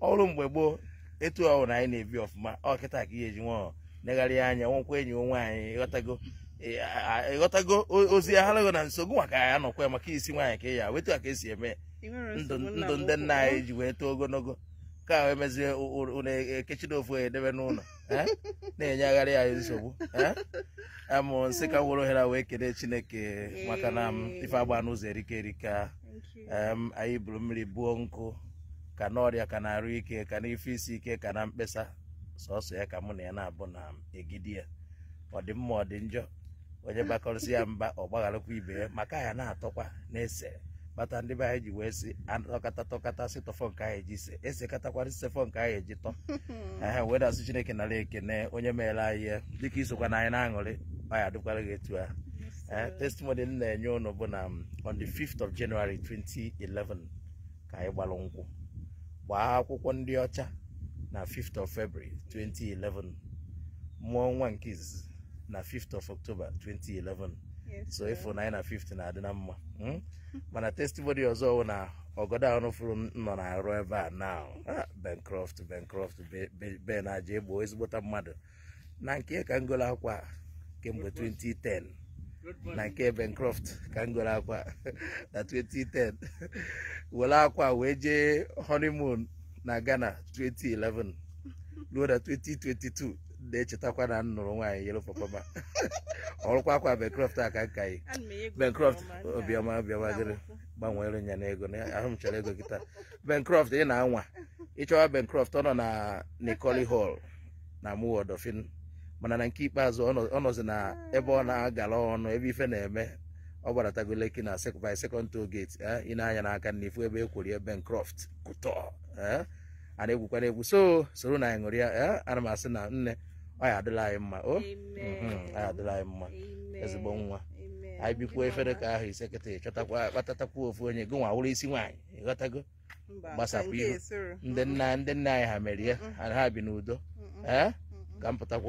ọ bụrụ mgbe gboo etu ọ hụrụ na anyị na-ebi ọfụma ọ kịta ka ihe eji nwa negharị anya nwekwa enyi nwe nwaanyị ị ghọtago ị ghọtago ozi ya harago na nso gụnwa ka ya nọkwa maka isi nwaanyị ka ya wụ etu a ka e si eme ndụ ndị nna anyị ji wee too ogologo ka ahụ emezie ụlọ ekechiri ofu edebe n'ụlọ na-enyegharị anyị nsogbu a mụ sị ka m were ohere wee kelee chineke maka na ife anyị na-azọ erika erika anyị buru mmiri buo nkụ ka n'ọrịa ka n'arụ ike ka n'ife isi ike ka na mkpesa sọsọ ya ka mụ na ya na-abụ na-anagide ya ọ dị mma ọ dị njọ onye bakọrịsịa mba ọ gbagharakwa ibe ya maka ya na-atọkwa na-ese kpata ndị be anyị ji wee sị atọkata tọkata sị tọfọ nke anyị ji se esekatakwara sefọ nke anyị eji tọ ehe wee da-asị chineke nara ekene onye meere anyị ya dịka i sokwa na anyị na-aṅụrị ọ ya adịkwara gị etu ahụ Eh, testimony m na-enye ụnụ bụ na um, on the 5th of January 2011 ka anyị gbara nkwụ gbaa akwụkwọ ndị ọcha na 5th of February 2011 mụọ nwa nke izizi na 5th of October 2011 so ị fụ na anyị na 5th na-adị na mma hmm? mana testimony ọzọ bụ na ọgọdọ a ụnụ fụrụ nọ n'arụ ebe a na ah, Bencroft Bencroft Ben Ajaegbo ezigbota mmadụ na nke ka m goro akwa a kemgbe 2010 na nke Bencroft ka m goro akwa a na 2010 were akwa a wee jee honeymoon na Ghana 2011 ruo na 2022 na-echetakwa na m nụrụ nwaanyị yellow pawpaw ma ọ bụrụkwa akwa Bencroft a ka m ka yi Ana m enye gị Bencroft obiọma obiọma obiọma dịrị akwụkwọ. gbanwere nya na ego na ahụ m chọrọ ego kịta Bencroft ị na-anwa ị chọwa Bencroft ọ nọ na Nicole Hall na Amuwo Odofin mana na nke ikpeazụ ọ nọzi na ebe ọ na-agala ọnụ ebe ife na-eme ọ gbaratago Lekki na by second toll gate eh, ị nee anya n'aka nni ị fụ ebe ekwori ebe Bencroft Couture eh, a na-egwukwana egwu so soro na anyị ṅụrịa eh, ana m asị na nne ọ ya adịla anyị mma o oh, mhm, ọ ya adịla anyị mma ezigbo nwa anyị bikwuo ife ra ka ahọ ise kịta ị chọtakwa kpọbatakwa ofu onye gị nwa wụrụ isi nwaanyị ị ghọtago Mba, gbasapụ nke ihu. esoro. ndị nna ndị nna anyị ha mere ya ha bi n'udo Mm-mm. ee Mm-mm. ka m pụtakwa